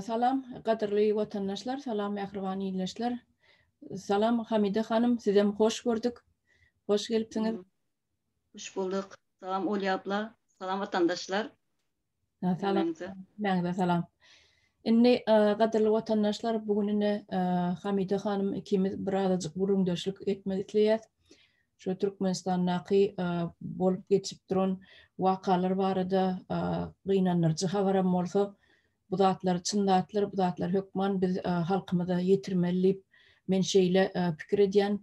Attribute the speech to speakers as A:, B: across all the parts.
A: Salam, gadyrly watandaşlar, salam mähriban ildeşler. Salam Hamide hanym, sizem hoş gördük. Hoş gelipsiňiz. Hoş
B: bulduk. Salam Olya abla, salam watandaşlar.
A: Salam. Mäňize salam. Indi gadyrly watandaşlar, bu gün indi Hamide hanym ikimiz birazajyk gürrüňdeşlik etmek isleýäs. şu Türkmenistandaky bolup geçip duran wakalar barada gynandyryjy habaram bolsa, bu zatlar çyn zatlar, bu zatlar hökman biz halkymyza ýetirmeli diýip, men şeýle pikir edýän.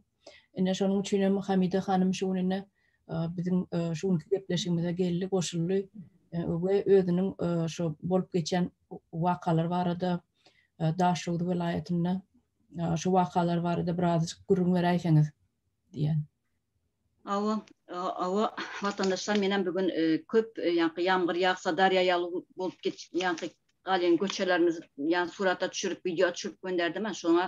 A: Ine, şonuň üçin hem Hamida hanym şu gün ine biziň şu günki gepleşigimize geldi, goşuldy we özüniň şu bolup geçen wakalar barada Daşoguz welaýatynda şu wakalar barada birazajyk gürrüň beräýseňiz. diýen. Hawa,
B: hawa, watandaşlar menem bu gün köp ýaňky ýamgyr ýagsa darýa ýaly bolup git ýaňky galýan göçelerimiz ýa surata düşürip wideo düşürip gönderdim şoňa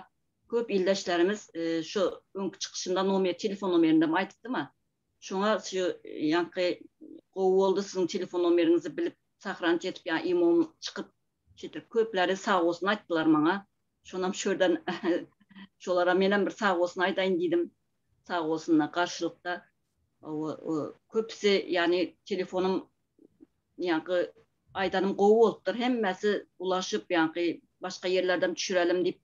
B: köp ildeşlerimiz şu öňki çykyşynda nomer telefon nomerindem aýdypdym şoňa şu ýaňky gowy boldy siziň telefon nomeriňizi bilip sahranit edip ýa imo çykyp şeýdip köpleri sag bolsun aýtdylar maňa Şonam şu ýerden şolara menem bir sag bolsun aýdaýyn diýdim. Sag bolsunlar garşylykda köpüsi ýany telefonym ýaňky aýdanym gowy bolupdyr. Hemmesi ulaşyp ýaňky başga ýerlerden düşürelim diýip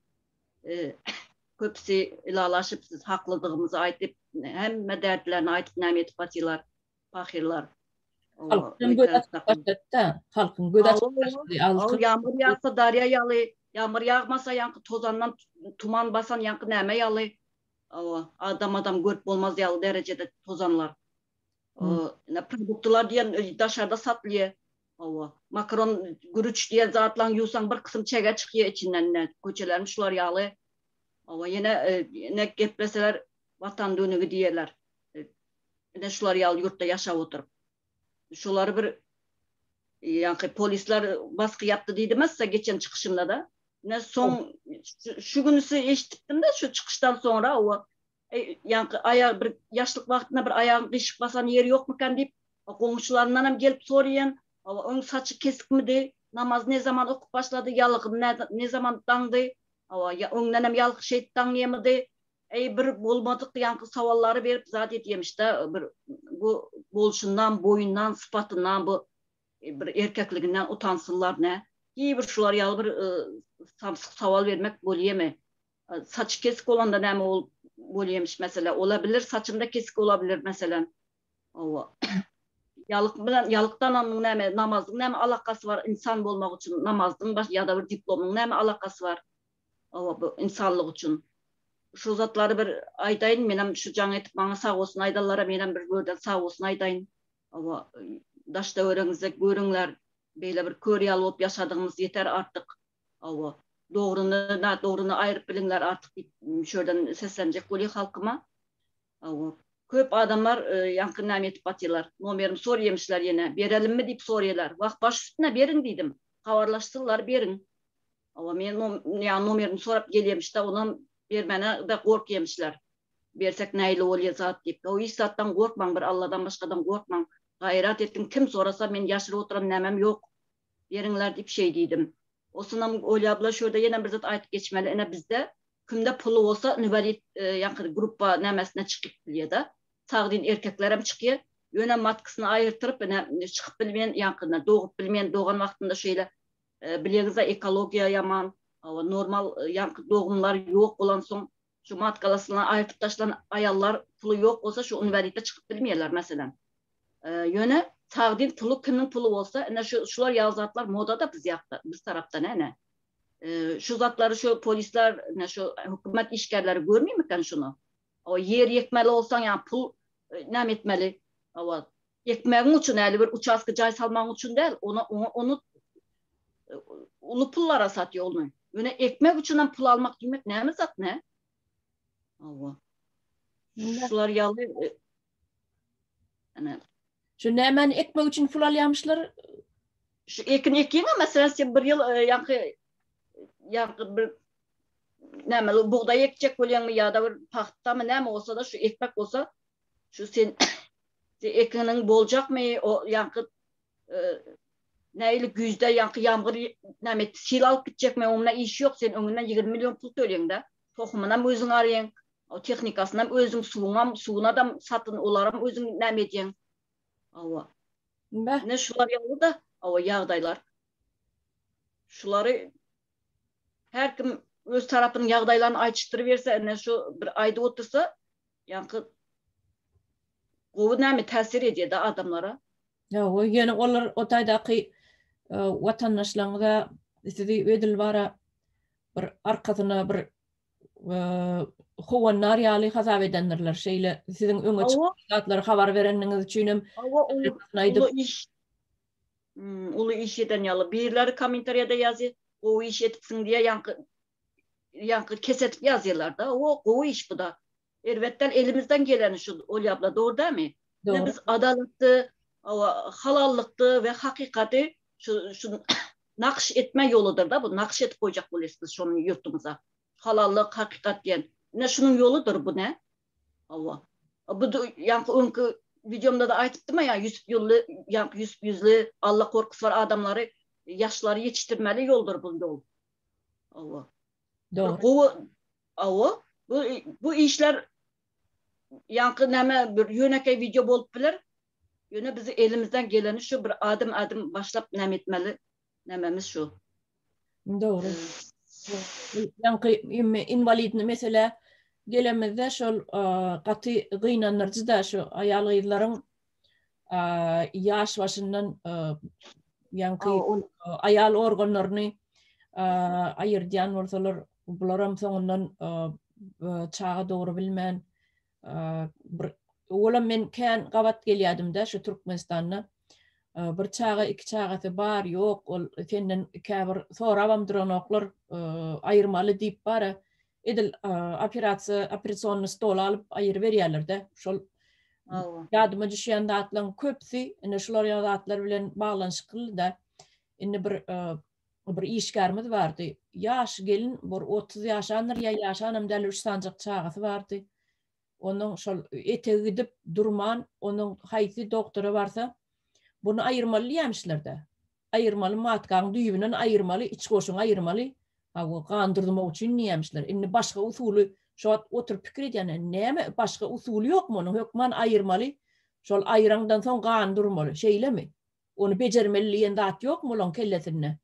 B: köpüsi ylalaşyp siz haklydygymyzy aýdyp hemme derdlerini aýdyp näme edip atýlar. Pahyrlar. Halkdan
A: göz açyp başlady-da. Halkyň göz açyp başlady. Altyn. Ýagmyr ýagsa
B: darýa ýaly, ýagmyr ýagmasa ýaňky tozandan tuman basan ýaňky näme ýaly? Hawa, adam-adam görüp bolmaz ýaly derejede tozanlar. Ine, produktlar diýen daşarda satylýar. Hawa, makaron, gürüç diýen zatlaň ýuwsaň bir kysym çege çykýar içinden. Ine, köçelerimiz şular ýaly. Hawa, ýene ine gepleseler, Watan dönügi diýerler. ine şular ýaly ýurtda ýaşap oturyp. Şulary bir ýaňky polisler basky ýapdy diýdimassa geçen çykyşynda da. Ne soň şu günüsi eşitdim de şu çykyşdan soňra o ýaňky aýag bir ýaşlyk wagtynda bir aýagyny gyşyk basan ýeri ýokmykan diýip goňşularyndan hem gelip soraýan. Oň saçy kesikmidi, namaz ne zaman okup başlady, ýalygyn ne zaman daňdy. Awa, öňden hem ýalkyş eýip daňýamydy. Eý bir bolmadyk ýaňky sawallary berip zat edýemişdä bir bu bolşundan boýundan sypatyndan bu bir erkekliginden utansyzlar nä hiý bir şular ýaly bir samsyk sawal bermek bolýamy saçy kesik bolanda näme bolup bolýemiş meselä ola bilir saçynda kesik bola bilir meselem hawa ýalyk bilen ýalykdananyň näme namazyň näme alakasy bar ynsan bolmak üçin namazyň bar ýada bir diplomyň näme alakasy bar Hawa bu ynsanlyk üçin. Şu zatlary bir aýdaýyn menem şu jaň edip maňa sag bolsun aýdanlara menem bir görden sag bolsun aýdaýyn. Hawa daş töweregiňizde görüňler beýle bir kör ýaly bolup ýaşadygymyz ýeter artyk. Hawa dogryny na dogryny aýryp biliňler artyk diýip şu ýerden seslenjek bolýa halkyma. Hawa köp adamlar ýaňky näme etip batýalar nomerimi sorýemişler ýene berelimmi diýip sorýalar wah baş üstüne beriň diýdim habarlaşsynlar beriň. Hawa men ýa nomerini sorap gelýemişde onam bermäne de gorkýemişler. Bersek nähili bolýa zat diýip. Hawa hiç zatdan gorkmaň bir Alladan başgadan gorkmaň. Gaýrat etdiň kim sorasa men ýaşyryp oturan nämem ýok. Beriňler diýip şeý diýdim. Osunam Olýabla şurada ýene bir zat aýtyp geçmeli ine bizde kimde puly bolsa inwalid ýaňky gruppa nämesine çykyp bilýeda. Sagdyn erkeklerem çykýa. Ýöne matkysyny aýyrtyryp ine çykyp bilmeýän ýaňky ine dogup bilmeýän dogan wagtynda şeýle Bilerizä ekologiýa ýaman, hawa normal ýaňky dogumlar ýok bolansoň şu matkalasyna aýyrtyp taşlan aýallar puly ýok bolsa şu inwalidde çykyp bilmeýärler meselem. Ýöne sagdyn puly kimiň puly bolsa ine şu şular ýaly zatlar modada biz ýakda biz tarapda ne ine. Şu zatlary şu polisler ine şu hökümet işgärleri görmimiken şuny. Oba ýer ýekmeli bolsaň ýa pul näme etmeli. Oba ekmegiň üçin äli bir uçastka jaý salmagyň üçin däl, ony oňa ony uly pullara satýa ony. Ýöne ekmek üçin hem pul almak diýmek näme zat nä? Oba. Şular ýaly
A: Şu nämäni ekmek üçin pul alýamyşlar? Şu
B: ekin ekýäňä meselem sen bir ýyl e, ýaňky ýaňky bir näme bugdaý ekjek bolýaňmy ýa-da bir pagtamy näme bolsa-da şu ekmek bolsa şu sen ekiniň boljakmy o ýaňky e, näýli güýzde ýaňky ýamgyr näme sil alyp gitjekmi oňuna iş ýok sen öňünden 20 million pul töleýiň-de tohumynam özüň arýaň O tehnikasynam özüň suwuňam suwunadam satyn olaram özüň näme edýäň. Hawa. Beh. Ine
A: şular ýaly-da
B: hawa ýagdaýlar. Şulary her kim öz tarapynyň ýagdaýlaryny aýçyşdyryberse ine şu bir aýdyp otursa ýaňky gowy näme täsir edýär-de adamlara. Hawa ýöne
A: olar o taýdaky watandaşlaryňyza sizi edil bara bir arkasyna bir howanlar ýaly hasap edendirler. Şeýle siziň öňe çykan zatlary habar
B: bereniňiz
A: üçin hem uly
B: iş uly iş eden ýaly. Birleri kommentariýada ýazýar, gowy iş edipsiň diýýär, ýaňky ýaňky kesedip ýazýarlar-da. Gowy iş bu-da. Erbet däl elimizden geleni şu Olýa abla dogry dämi? Dogry. Biz adalatdy, owa halallykdy we hakykaty şu şu nakyş etme ýoludyr da bu nakyş edip goýjak bolýas biz şony ýurtymyza. Halallyk, hakykat diýen. Ine şunuň ýoludyr bu ne? Owa. Bu ýaňky öňki wideomda-da aýdypdym-a ýa Ýusup ýully ýaňky Ýusup ýüzli Alla gorkusy bar adamlary ýaşlary ýetişdirmeli ýoldur bu ýol. Owa. Dogry.
A: Gowy. Awa, bu
B: bu işler ýaňky näme bir ýönekeý wideo bolup biler. Ýöne biz elimizden geleni şu bir adym adym başlap näme etmeli nämemiz şu.
A: Dogry. Ýaňky indi inwalidni meselä gelemizde şol gaty gynandyryjy-da şu aýal gyzlaryň ýaş başyndan ýaňky aýal organlaryny aýyrdýan bolsalar, bular hem soňundan çaga dogry bilmän bir olam men kän gabat gelýädim-de şu Türkmenistanda. Bir çaga, iki çagasy bar, ýok, ol senden käbir sorabam duranoklar, aýyrmaly diýip bara Edil operasiýa operasionny stoly alyp aýyryberýärler-de. Şol ýadyma düşýän zatlaryň köpüsi ine şular ýaly zatlar bilen baglanyşykly-da. Indi bir bir işgärimiz bardy. Ýaş gelin, bir otuz ýaşandyr ýa ýaşanam däl, üç sanjak çagasy bardy. onuň şol etegi gidip durman, onuň haýsy dogtora barsa, Buny aýyrmaly diýämişler-de. Aýyrmaly, matkaň düýbünden aýyrmaly, iç goşuňy aýyrmaly. Ha bu gan durdurmak üçin diýämişler. Indi başga usuly, şo wagt oturyp pikir edýän, näme başga usuly ýokmy onuň, hökman aýyrmaly, şol aýyraňdan soň gan durmaly, şeýlemi? Ony bejermeli diýen zat ýokmy olaň kellesinde?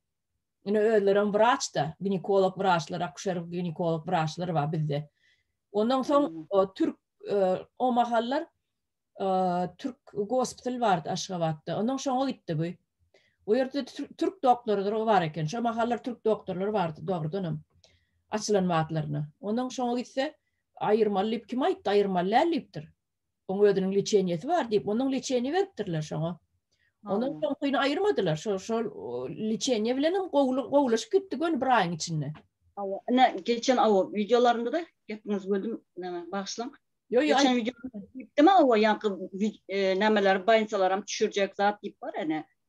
A: Ine özlerem wraç da, ginekolog wraçlar, akuşer ginekolog wraçlar bar bizde. Ondan soň hmm. türk o mahallar türk gospital bardy Aşgabatda. Ondan şoňa gitdi bu. O ýerde türk doktorydyr o bar eken. Şo mahallar türk doktorlary bardy dogrudan hem. Açylan wagtlaryna. Ondan şoňa gitse aýyrmaly diýip kim aýtdy aýyrmaly däl diýipdir. Oň özüniň liçeniýesi bar diýip, onuň liçeniýe beripdirler şoňa. Onuň soňkyny aýyrmadylar. Şol şol liçeniýe bilen hem gowulaşyp gitdi göni bir aýyň içinde. Hawa, ine
B: geçen awa wideolarynda-da gepiňizi böldüm, näme bagyşlaň. Ýok, ýok. Geçen wideoda diýipdim, awa ýaňky nämeleri, baýnysalaram düşürjek zat diýip bar ene.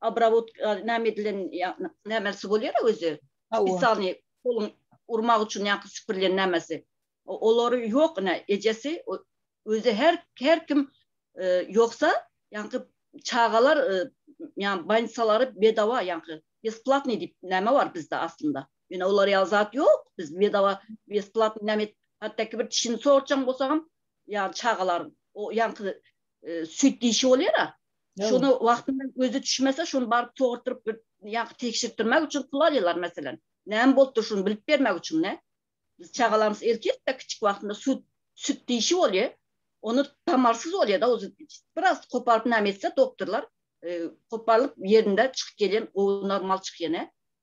B: Obrawotka näme edilen nämelsi bolýar-a özi. Spesialnyý poluň urmak üçin ýaňky süpürilen nämesi. Olary ýok ine ejesi özi her her kim ýoksa ýaňky çagalar ýaňy bansalary bedawa ýaňky besplatnyý diýip näme bar bizde aslynda. Ýöne olar ýaly zat ýok biz bedawa besplatnyý näme et hatda ki bir dişini sogurtjaň bolsagam ýaňy çagalaryň o ýaňky süýt dişi bolýar-a. Şony wagtynda gözi düşmese, şony baryp sogurtdyryp bir ýa-da tekşirtdirmek üçin pul alýarlar meselem. Näme bolupdyr şuny bilip bermek üçin-dä. Biz çagalarymyz ertirde kiçik wagtynda süýt süýt dişi bolýar. Ony tamarsyz bolýar-da, ozi biraz goparyp näme etse doktorlar, goparylyp ýerinde çykyp gelýän gowy normal çykýan-a.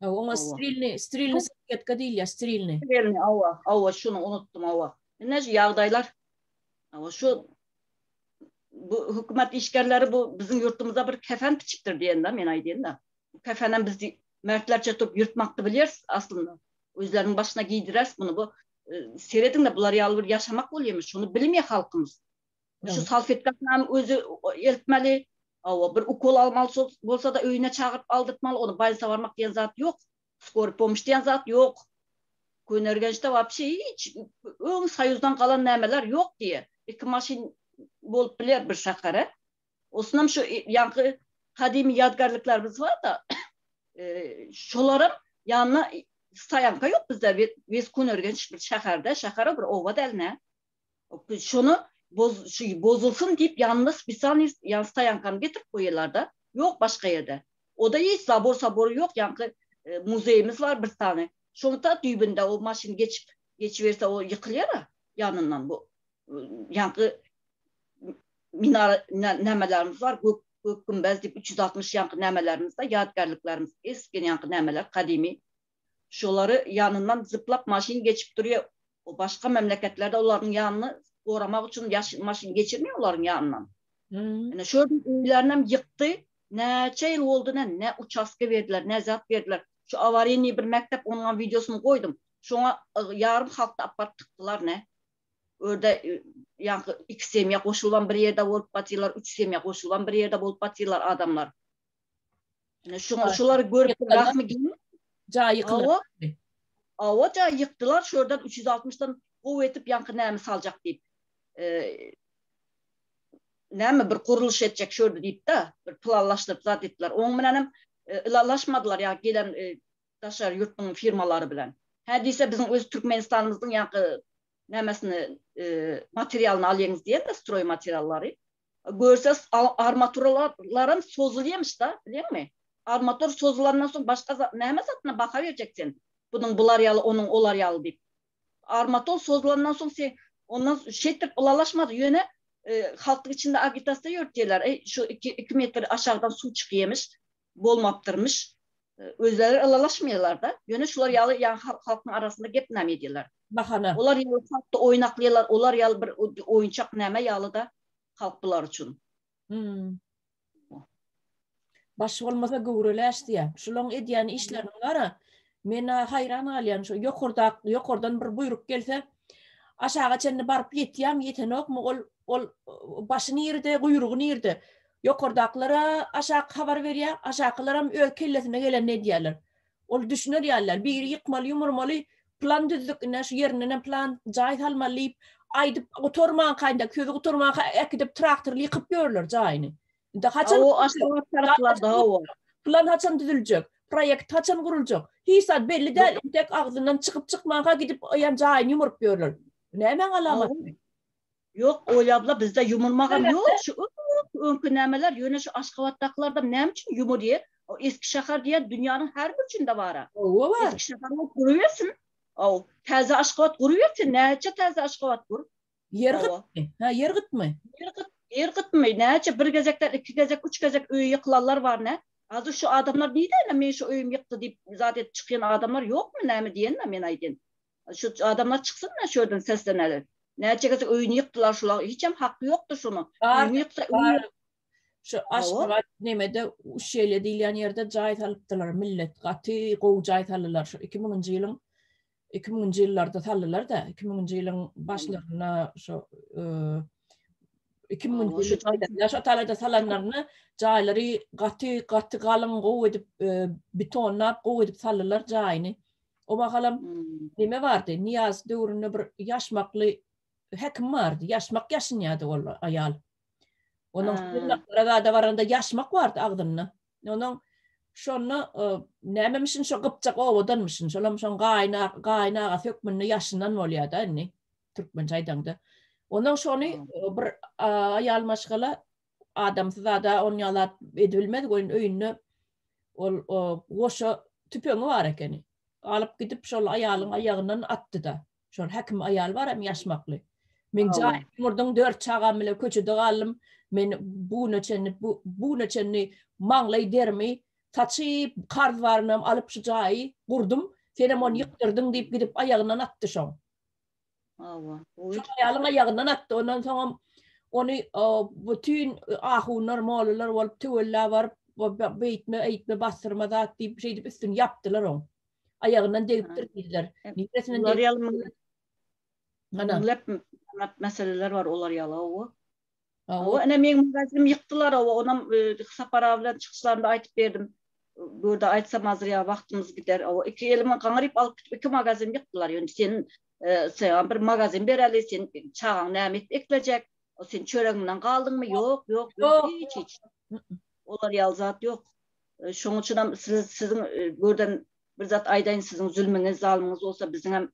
B: Hawa, oňa strilny,
A: strilny salfetka diýilýär, strilny. Strilny, hawa, hawa,
B: şuny unutdym, hawa. Ine şu ýagdaýlar. Hawa, şu bu hökümet işgärleri bu biziň ýurtymyza bir kefen biçipdir diýen-de, men aýdýan-da. Bu kefenem biz mertlerçe turup ýyrtmakdy bilýäris aslynda. Özleriniň başyna geýdireris muny bu. Serediň-de, bular ýaly bir ýaşamak bolýamy? Şuny bilmeýär halkymyz. Şu salfetkasynam özi eltmeli, Hawa, bir ukol almaly bolsa-da öýüne çagyryp aldyrtmaly, ony balnisa barmak diýen zat ýok, skory pomuş diýen zat ýok. Köneürgençde wapşe hiç öň soýuzdan galan nämeler ýok diýe. Iki maşyn bolup biler bir şähere. Osunam şu ýaňky gadymy ýadgarlyklarymyz bar-da, şolaram ýanyna stoýanka ýok bizde, wes Köneürgenç bir şäherde, şäher-a bir oba däl-nä. Şony boz şu bozulsun diýip ýanyna spesialnyý ýa stoýankany getirip goýýarlarda. Ýok başga ýerde. Oda hiç zabor sabor ýok ýaňky muzeýimiz bar bir sany. Şoň ta düýbünde o maşyn geçip geçiberse o ýykylýara ýanyndan bu ýaňky minara nämelerimiz bar gök gök gümbez diýip üç ýüz altmyş ýaňky nämelerimiz bar ýadygärliklerimiz esgen ýaňky nämeler gadymy şolary ýanyndan zyplak maşyn geçip durýa o başga memleketlerde olaryň ýanyny goramak üçin ýaş maşyn geçirmeýa olaryň ýanyndan ine şo ýerden öýlerinäm ýykdy näçe ýyl boldy ine ne uçastka berdiler ne zat berdiler şu awarynyý bir mekdep onuňam wideosyny goýdum şoňa ýarym halkdy alyp baryp tykdylar ne örde ýaňky iki semýa goşulybam bir ýerde bolup batyrlar üç semýa goşulybam bir ýerde bolup batyrlar adamlar. Şuňa şular görüp bilmezmi gel. Ja
A: ýykdylar.
B: Awa ja ýykdylar şu ýerden 360-dan gowy etip ýaňky näme saljak diýip. E, näme bir gurluş etjek şu ýerde diýip-de, bir planlaşdyryp zat etdiler. Oň bilen hem e, ylalaşmadylar ýa gelen e, daşary ýurtlaryň firmalary bilen. Hä diýse biziň öz Türkmenistanymyzyň ýaňky nämesini e, materialyny alýaňyz diýen-de stroý materiallary. Görse armaturalarym sozulýamyş da bilýäňmi? Armatur sozulandan soň başga näme zadyna baha berjek sen? Bunuň bular ýaly onuň olar ýaly diýip. Armatur sozulandan soň sen ondan şeýtdirip ylalaşmaz ýöne halkyň içinde agitasiýa ýörütýärler eý şu iki metr aşakdan suw çykýamyş. bolmapdyrmyş özleri ylalaşmaýarlarda ýöne şular ýaly ýa halkyň arasynda gep name edýärler bahana olar ýaly
A: halkda
B: oýnaklaýarlar olar ýaly bir oýunçak name ýalyda halk bular üçin
A: baş bolmasa göwreleş diýä şulaň edýän işlerini gara men haýran galýan şu ýokarda ýokardan bir buýruk gelse aşaga çenli baryp ýetýämi ýetenokmy ol ol başy nirde guýrugy nirde Ýokardakylara aşaky habar berýär, aşakylaram öz kellesine gelenini edýärler. Ol düşüner ýaly däl, biri ýykmaly, ýumurmaly, plan düzdük, ine şu ýerindenem plan jaý salmaly diýip, aýdyp gutarmankaýynda, sözi gutarmanka äkidip traktorly ýykyp ýörler jaýyny. Indi haçan
B: plan haçan
A: düzüljek, proýekt haçan guruljak, hiç zat belli däl, entek agzyndan çykyp-çykmanka gidip jaýyny ýumuryp ýörler. Bu nämäň alamaty? Ýok
B: Oly abla bizde ýumurmagam ýok şu öňki nämeler ýöne şu aşgabatdakylarda näme üçin ýumurýa o eski şahar diýen dünýäniň her burçunda bara owa bar eski şahar bolup durubersin ow täze aşgabat gurubersin näçe täze aşgabat gur ýer gytmy ha
A: ýer gytmy ýer gyt ýer gytmy
B: näçe bir gezekden iki gezek üç gezek öýi ýykylanlar bar nä Azur şu adamlar nidäne men şu öýüm ýykdy diýip zat edip çykýan adamlar ýokmy näme diýenme men aýdýan Şu adamlar çyksynda şu ýerden sesleneler. Näçe gezek öýüni ýykdylar şular. Hiçem haky ýokdur şunuň. Öýüni ýyksa öýüni. Şu
A: Aşgabat nemede Uşelýa diýilýän ýerde jaý salypdylar millet. Gaty gowy jaý saldylar. Şu iki müňünji ýylyň iki müňünji ýyllarda saldylar-da. Iki müňünji ýylyň başlarynda şu iki müňünji ýylda şu talada salanlarynda jaýlary gaty gaty galyň gowy edip betonlap gowy edip saldylar jaýyny. O wagalam neme bardy, Niýaz döwründe bir ýaşmakly hekim bardy, ýaşmak ýaşynýady ol aýal. Onuň Aragada baranda ýaşmak bardy agzynda. Onuň şonda nämemişin şo gypjak owadanmyşyn, şolam şoň gaýynagasy hökmünde ýaşynan bolýar-da indi, türkmençe aýdaňda. Onuň şony bir aýal maşgala adamsy zada on ýaly zat edibilmez welin öýünde ol goşa tüpeňi bar ekeni. Alyp gidip şol aýalyň aýagyndan atdy-da. Şol häkim aýal bar hem ýaşmakly. Men jaýym ýumurdym, dört çagam bilen köçede galdym. Men bu güne çenli bu güne çenli maňlaý derimi saçyp, karz barynam alyp şu jaýy gurdum. Sen hem ony ýykdyrdyň diýip gidip aýagyndan atdy şoň. Hawa. Şol aýalyň aýagyndan atdy. Ondan soňam ony bütün ahunlar, mollalar bolup töwella baryp, beýtme, eýtme, basdyrma zat diýip, şeýdip üstüni ýapdylar oň. Aýagyndan degipdir diýdiler. Niresinden degipdir? Olar ýaly
B: meselelere bar olar ýala. Hawa, ine meň magazinimi ýykdylar, hawa, onam Sapar aga bilen çykyşlarynda aýdyp berdim. Burada aýtsam azdyr ýa wagtymyz gider. Hawa, iki elimi gaňryp alyp gidip iki magazinimi ýykdylar. Ýöne sen saňa bir magazin bereli, sen çagaň näme edip eklejek? Sen çöregiňden galdyňmy? Ýok, ýok, ýok, hiç, hiç. Olar ýaly zat ýok. Şonuň üçinem siz siziň buradan bir zat aýdaýyn, siziň zülmüňiz, zalymyňyz bolsa biziňem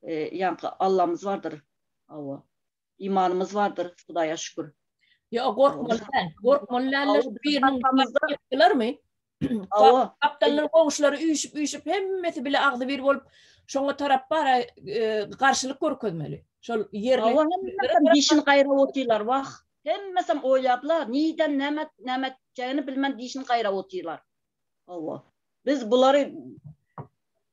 B: ýaňky Allamyz bardyr. Hawa. imanymyz bardyr Hudaýa şükür. Ýok gorkmaly
A: däl. Gorkmaly däl. Biriniň Gapdallar goňşulary üýşüp üýşüp hemmesi bile agzy bir bolup şoňa tarap bara e, garşylyk görkezmeli. Şol ýerli dişini gaýrap
B: otyrlar wah. Hemmesi oýlaplar. Niden näme näme etjegini bilmän dişini gaýrap otyrlar. Hawa. Biz bulary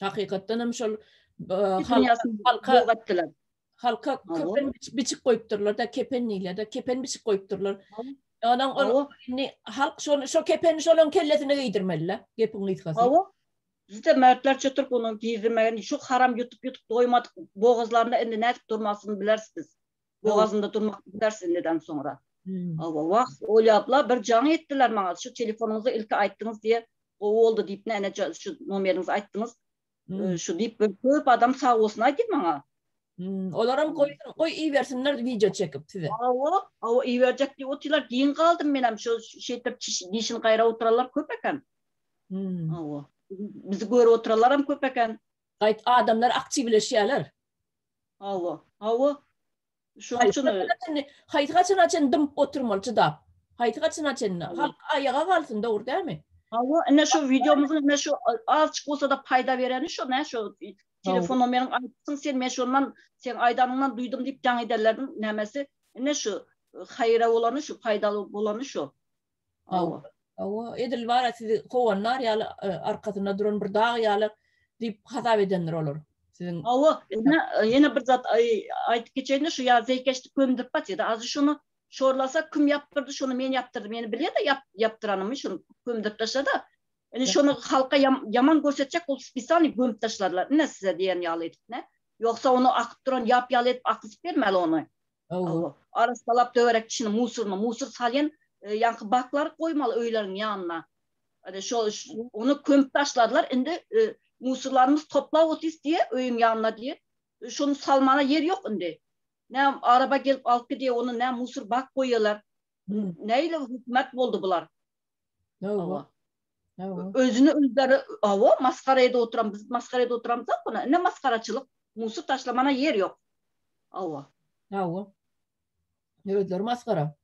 A: Hakykatdan hem şol halka halka kepen biçip goýupdyrlar da kepen diýler de kepen biçip goýupdyrlar. Onuň ol indi halk şol şo kepeni şolaryň kellesine geýdirmeli-le gepiň gysgasy. Hawa. Bizde
B: mertler çetir bunu giydirmegini şu haram yutup yutup doymadyk boğazlarında indi ne edip durmasını bileriz biz. bogazynda durmak bilýär sinneden soňra. Hawa, wah, oýlapla bir jaň etdiler maňa, şu telefonyňyzy ilki aýtdyňyz diýe gowy boldy diýip, näne şu nomeriňizi aýtdyňyz, şu diýip bir köp adam sag bolsun aýdy maňa. Olaram
A: goýsun, goý ibersinler wideo çekip size. Hawa, hawa iberjek
B: diýip otyrlar, giň galdym menem şu şeýtip dişini gaýrap oturanlar köp eken. Hawa, bizi görüp oturanlaram köp eken. Gaýt adamlar
A: aktiwleşýärler. Hawa. Hawa.
B: Şoň Haýsy üçin haçana çenli, haýsy haçana
A: çenli dymyp oturmaly çydap? Haýsy haçana çenli? Halk aýaga galsyn, dogry dälmi? Hawa, ine şu
B: wideomyzyň ine şu azjyk bolsa-da paýda bereni şu nä şu telefondan meniň aýdypsyň sen, men şondan seň aýdanyňdan duýdum diýip jaň ederleriniň nämesi ine şu haýyra bolany şu, paýdaly bolany şu. Hawa. Hawa, edil
A: bar-a sizi kowan nar ýaly, arkasynda duran bir dag ýaly diýip hasap edendir olar. Siziň Hawa, ine,
B: ýene bir zat aýdyp geçeýin-de, şu ýa zeýkeşdi kömdürip atýa-da, azy şony şorlasa, kim ýapdyrdy, şony men ýapdyrdym, ýene bilýä-de ýapdyranymy, şony kömdürip taşla-da, ine, şony halka ýaman görsetjek bolup, spisaniý gömüp taşlarlar, ine, size diýen ýaly edip, ne? Ýogsa, ony akyp duran ýap ýaly edip akyzyp bermäli ony. Hawa. Arassalap töwerek içini musuryny musur salýan ýaňky baklary goýmaly öýleriň ýanyna. Ine şo ony kömüp taşladylar indi musurlarymyz toplap otyrys diýe öýüň ýanyna diýe. Şony salmana ýer ýok indi. Nä araba gelip alyp gidýä ony nä musur bak goýýalar. Nähili hökümet boldy bular. Hawa. Özüni öldüri, awa masgara edip oturan, biz masgara edip oturamyz da buna. Ine masgaraçylyk, musur taşlamana ýer ýok. Awa. Awa.
A: Özleri masgara.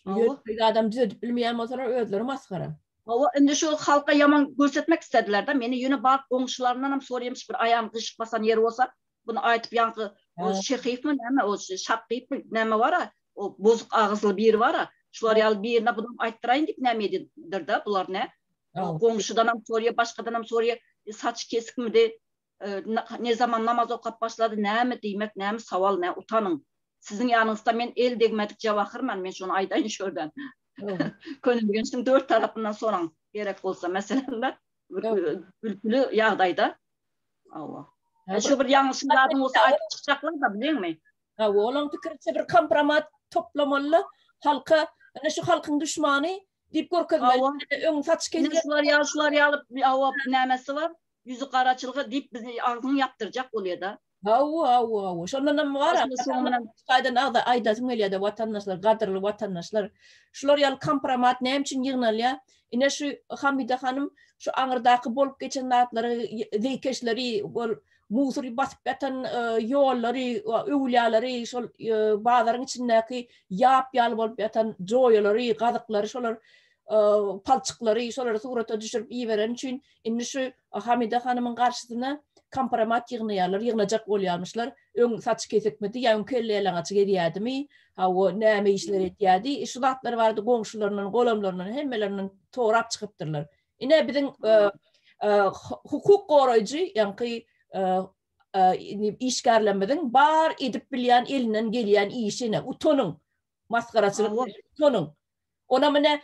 A: Awa. Biz adam düzedip bilmeýän bolsalar özleri masgara. Awa, indi şu
B: halka ýaman görsetmek istediler de, meni ýöne bar goňşularyndan hem soraýamyş bir aýagyny gyşyk basan ýeri bolsa, Bunu aýdyp ýaňky o şehypmi näme o şakypmy näme bara o bozuk agyzly biri bara şular ýaly birine bunu aýtdyraýyn diýip näme edipdir da bular ne goňşudan hem sorýa başgadan hem sorýa saç kesikmidi ne zaman namaz okap başlady näme diýmek näme sowal nä utanyň siziň ýanyňyzda men el degmedik jawahyrman men şony aýdaýyn şu ýerden könelgençligiň dört tarapyndan soraň gerek bolsa meselem gülküli ýagdaýda Hawa. Şu bir ýalňyşyň zadyň bolsa aýdyp çykjaklar-da bileňmi? Hawa, olaň pikiriçe
A: bir kompromat toplamaly, halka, ine şu halkyň düşmany diýip görkezmeli, öň saç kesýär. Şular ýaly, şular ýaly, hawa,
B: nämesi bar? Ýüzi garaçylga diýip bizi agzyny ýapdyrjak bolýar-da. Hawa, hawa, hawa.
A: Şondan hem bar. Gaýdan agza aýdasym gelýär-de, watandaşlar, gadyrly watandaşlar. Şular ýaly kompromat näme üçin ýygnalýar? Ine şu Hamide hanym şu aňyrdaky bolup geçen zatlary zeýkeşleri ol musury basyp ýatan ýollary öwülýalary şol bazaryň içindäki ýap ýaly bolup ýatan joýalary gazyklary şolar palçyklary şolary surata düşürip iberen üçin Indi şu Hamide hanymyň garşysyna kompromat ýygnaýarlar, ýygnajak bolýarmyşlar. Öň saçy kesikmidi, ýa öň kelleýalaňaç gezýädimi, hawa, näme işler edýädi, şu zatlar barada goňşularyndan, golamlaryndan, hemmelerinden sorap çykypdyrlar. Ine, biziň hukuk goraýjy, ýaňky işgärlerimiziň bar edip bilýän, elinden gelýän işi ine, utanyň, Masgaraçylyk tonyň. Onam ine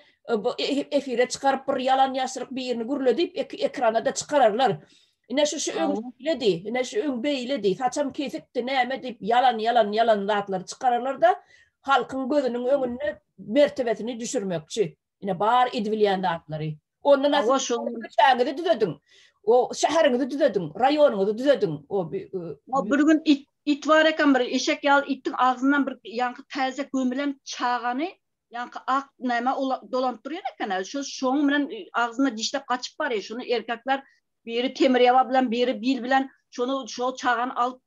A: efire çykaryp bir ýalan ýaşryk birini gürledip ekranada çykararlar. Ine şu şu öň beýledi, ine şu öň beýledi, saçam kesikdi, näme diýip ýalan ýalan ýalan zatlary çykararlarda halkyň gözüniň öňünde mertebesini düşürmekçi. Ine bar edibilýän zatlary. Onda nasıl şäheriňizi düzediň. O şäheriňizi düzediň, raýonyňyzy düzediň. O bir gün
B: it it bar eken bir eşek ýaly itiň agzyndan bir ýaňky täze gömülen çagany ýaňky ak näme dolanyp durýan eken. Şu şoň bilen agzyna dişläp gaçyp barýar. Şuny erkekler biri temirýaba bilen, biri bil bilen şuny şo çagany alyp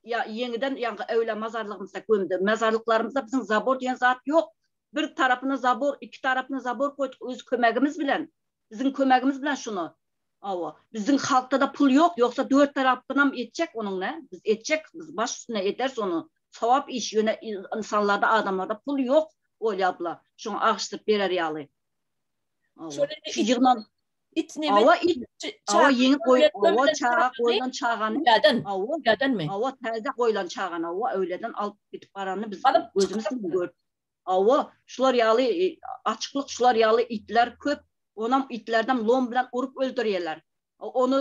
B: ýa ýeňiden ýaňky öwle mazarlygymyzda gömdi. Mazarlyklarymyzda biziň zabor diýen zat ýok. bir tarapyna zabor iki tarapyna zabor goýduk öz kömegimiz bilen biziň kömegimiz bilen şuny awa biziň halkda-da pul ýok ýogsa dört tarapynam etjek onuň nä biz etjek biz baş üstüne ederis ony sogap iş ýöne ynsanlarda adamlarda pul ýok Olýa abla şoňa agyşdyryp berer ýaly awa şu ýygnan It ne Awa it, awa ýeňip goý, awa çaga goýlan çagany, awa, ýadanmy? Awa täze goýlan çagany, awa öýleden alyp gidip baranyny biz gözümiz bilen gördük. Awa, şular ýaly açyklyk, şular ýaly itler köp, onam itlerden lom bilen urup öldürýärler. Ony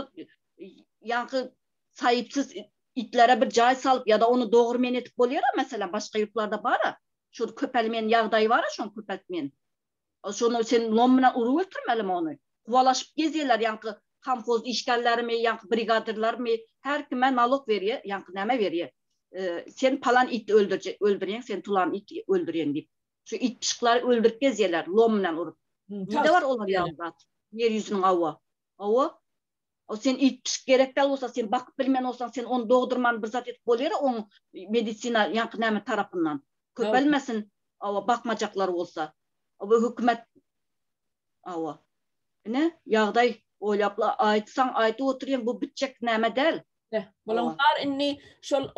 B: ýaňky saýypsyz itlere bir jaý salyp ýa-da ony dogurmen edip bolýar-a, meselem, başga ýurtlarda bar-a, şu köpelmeýän ýagdaýy bar-a, şony köpeltmeýän. Şony sen lom bilen urup ötürmelimi ony? Kuwalaşyp gezýärler ýaňky komhoz işgärlerimi, ýaňky brigadirlerimi, her kime nalog berýär, ýaňky näme berýär. Sen palan iti öldürýäň, sen tulan iti öldürýäň diýip. Şu it pyşyklary öldürip gezýärler lom bilen urup. Nirede bar olar ýaly zat ýer ýüzüniň hawa. Hawa, O sen iýip pişik gerek dal bolsa sen bakyp bilmen bolsaň sen ony dogdurman bir zat edip bolýara oň medisina ýaňky näme tarapyndan köpelmesin awa bakmajaklar bolsa awa hökümet awa ine ýagdaý oýlapla aýtsaň aýdyp oturýaň bu bitjek näme däl Bulaň bar
A: indi şol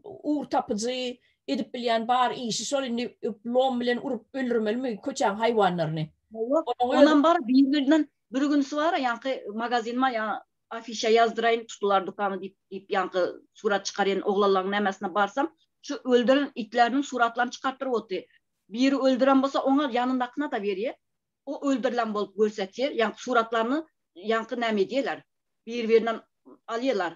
A: ugur tapyjy edip bilýän bar işi şol indi lom bilen urup öldürmelimi köçäň haýwanlaryny. Onam
B: bar bir birden bir günüsi bar ýaňky magazin ma ýa afişa ýazdyraýyn tutular dukany diýip diýip ýaňky surat çykarýan oglanlaň nämesine barsam şu öldüren itleriniň suratlaryny çykartdyryp oty biri öldüren bolsa oňa ýanyndakyna da berýä O öldürilen bolup görsetir yan suratlaryny yanky name edýeler bir birinden alýalar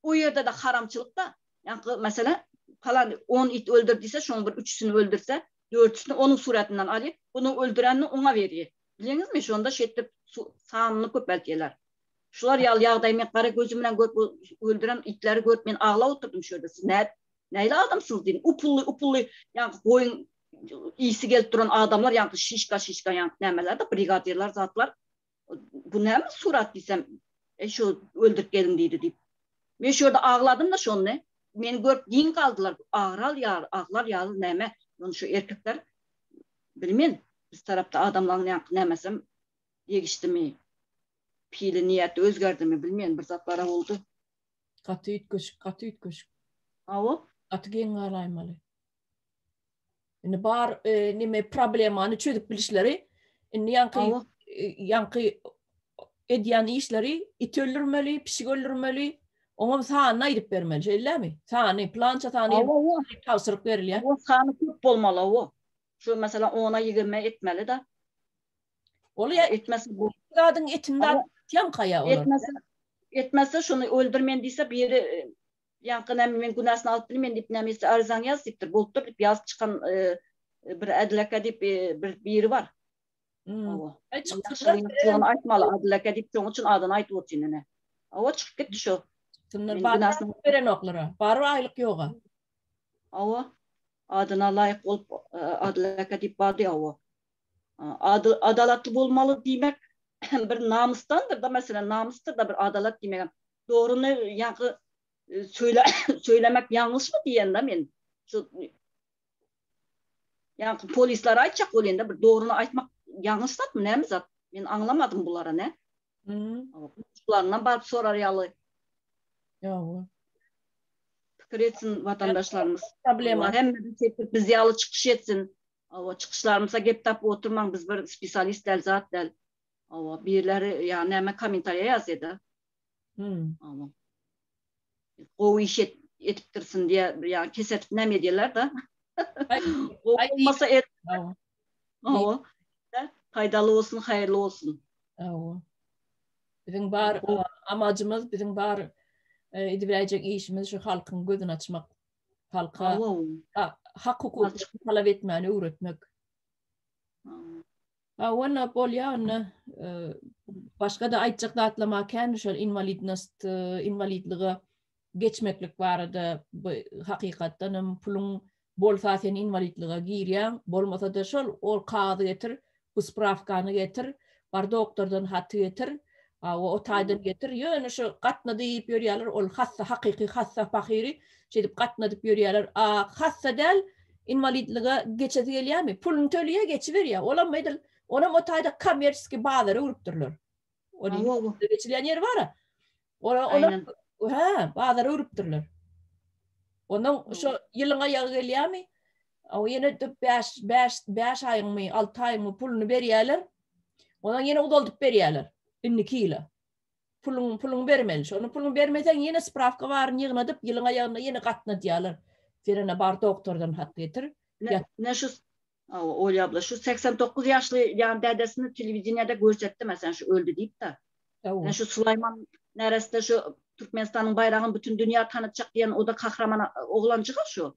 B: o ýerdede haramçylykda yanky meselem palan on it öldür diýse şoň bir üçüsini öldürse dörtüsini onuň suratyndan alýa bunu öldürenini oňa berýe bilýeňizmi şonda şeýtdip sanyny köpeltýeler şular ýaly ýagdaý men gara gözüm bilen görüp öldüren itleri görüp men aglap oturdym şöýle siz nädip näle adamsyňyz diýdim upully upully yanky goýun isi gelip duran adamlar ýaňky şişka şişka ýaňky nämelerde brigadirler zatlar bu näme surat diýsem e, şu öldürip gelin diýdi diýip men şu ýerde agladym da şonda meni görüp giň galdylar agral ýaly aglar ýaly näme ýöne şu erkekler bilmen biz tarapda adamlaryň ýaňky nämesem degişdimi pili niýeti özgerdimi bilmen bir zatlara boldy gaty
A: üýtgeşik gaty üýtgeşik awa gaty
B: geň
A: galaýmaly Indi bar e, neme problemany çözüp bilişleri indi ýanky e, ýanky edýän işleri it öldürmeli, pişik öldürmeli, oňa sanyny aýdyp bermeli, şeýlemi? Sany, plança sany tabşyryk berilýär. O sany köp
B: bolmaly o. Şu mesela 10-a 20 etmeli da. Ol
A: ya etmesi bu.
B: Zadyň etinde
A: atýan kaýa olar. Etmesi etmesi
B: şuny öldürmen diýse biri e, Ýaňky näme men günäsini alyp bilmen diýip näme etse arizaňy ýaz diýipdir bolupdyr diýip ýazyp çykan bir Ädil aka diýip bir biri bar. Hawa. Aýtmaly Ädil aka diýip şoň üçin adyny aýdyp otyryn ine. Hawa çykyp gitdi şo. Kimdir baryny
A: berenoklara. Bary aýlyk ýoga. Hawa.
B: Adyna laýyk bolup Ädil aka diýip bardy hawa. Ady adalatly bolmaly diýmek bir namysdandyr-da meselem namysdyr-da bir adalat diýmegem. Dogryny ýaňky söylemek ýalňyş mı diýen da men. Şu ýaňky polisler aýtjak bol ýende bir dogryny aýtmak ýalňyş zat mı näme zat? Men aňlamadym bulara ne? Şularyndan baryp sorar ýaly.
A: Ýoga.
B: Pikir etsin watandaşlarymyz. Problema. Hem
A: biz
B: ýaly çykyş etsin. Awa çykyşlarymyza gep tapyp oturmaň biz bir spesialist däl zat däl. Awa birleri ýa näme kommentariýa ýazýa da. Hum. Gowy iş et, etipdirsin diye yani kesetip näme edýärler da. Gowy bolmasa et. Hawa. Paýdaly bolsun, haýyrly bolsun. Hawa. Biziň
A: bar amajymyz, biziň bar e, ediläýjek işimiz şu halkyň gözüni açmak. Halka hak hukuklaryny talap etmäni öwretmek. A walla bolýa onda başga da aýtjak zatlam bar kän şol inwalidnost inwalidlige geçmeklik barada hakykatdan hem puluň bolsa sen inwalidlige girýäň bolmasa da şol ol kagyzy getir bu sprawkany getir bar doktordan haty getir Hawa o taýdan getir. Ýöne şu gatna diýip ýörýärler ol hassa hakyky hassa pahyry şeýdip gatnadyp ýörýärler. A hassa däl inwalidlige geçesi gelýärmi? Puluny töleýär geçiberýär. Olam edil onam o taýda kommersiýski bazara urupdyrlar. Ony geçilýän ýeri bara. Ora olar hä bazara urupdyrlar. Ondan şo ýylyň aýagy gelýärmi? Aw ýene dört bäş bäş bäş aýyňmy alty aýyňmy puluny berýäler. Ondan ýene uzaldyp berýäler. Indiki ýyla. Puluň puluň bermeli. Şony puluň bermeseň ýene sprawka baryny ýygnadyp ýylyň aýagynda ýene gatna diýýäler. Sen ene bar doktordan hat getir. Ne şu
B: Aw Olýa abla şu segsen dokuz ýaşly ýan dädesini telewideniýede görsetdi meselem şu öldi diýip de. Ne şu Sulaýman neresse şu Türkmenistanyň baýragyny bütin dünýä tanatjak diýen oda kahraman oglanjyga şu.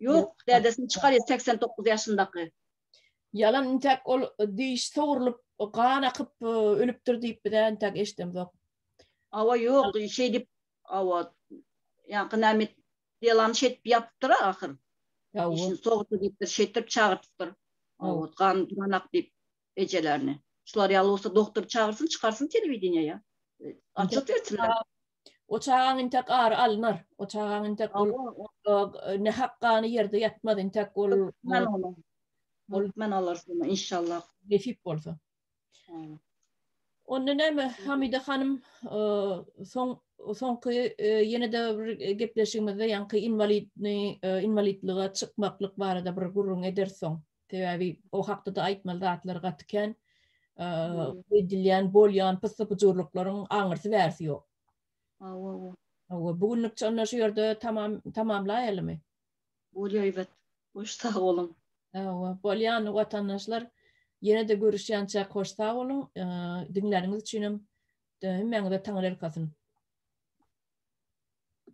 B: Ýok, dädesini çykarýa segsen dokuz ýaşyndaky. Ýalan
A: intäk ol diş sogrulyp gan akyp ölüpdir diýip bizä intäk eşdemzok. Awa ýok
B: şeý diýip awa ýaňky näme delany şeýdip ýapypdyr ahyr. Dişini sogurdy diýipdir şeýtdirip çagyrtypdyr. Awa gan duran ak diýip ejelerini. Şular ýaly bolsa doktory çagyrsyn çykarsyn telewideniýa ýa. Açyk etsinler. O çagaň
A: intek ary alnar. O çagaň intek ol nähak gany ýerde ýatmaz. Intek ol Men ol
B: ol men olar şony inşallah. Nesip bolsa.
A: Onda näme Hamida hanym soň soňky ýene-de bir gepleşigimizde ýaňky inwalidni inwalidlige çykmaklyk barada bir gürrüň edersoň. Sebäbi o hakda-da aýtmaly zatlar gaty kän. Edilýän, bolýan pyssy-pyjurlyklaryň aňyrsy-bärsi ýok. Hawa-hawa. Hawa, bu günlükçe onda şu ýerde tamam tamamlaýalymy? Bolýar Iwet.
B: Hoş sag boluň. Hawa, bolýan
A: watandaşlar. Ýene-de görüşýänçäk hoş sag boluň. Diňläniňiz üçinem hemmäňize Taňyrýalkasyn.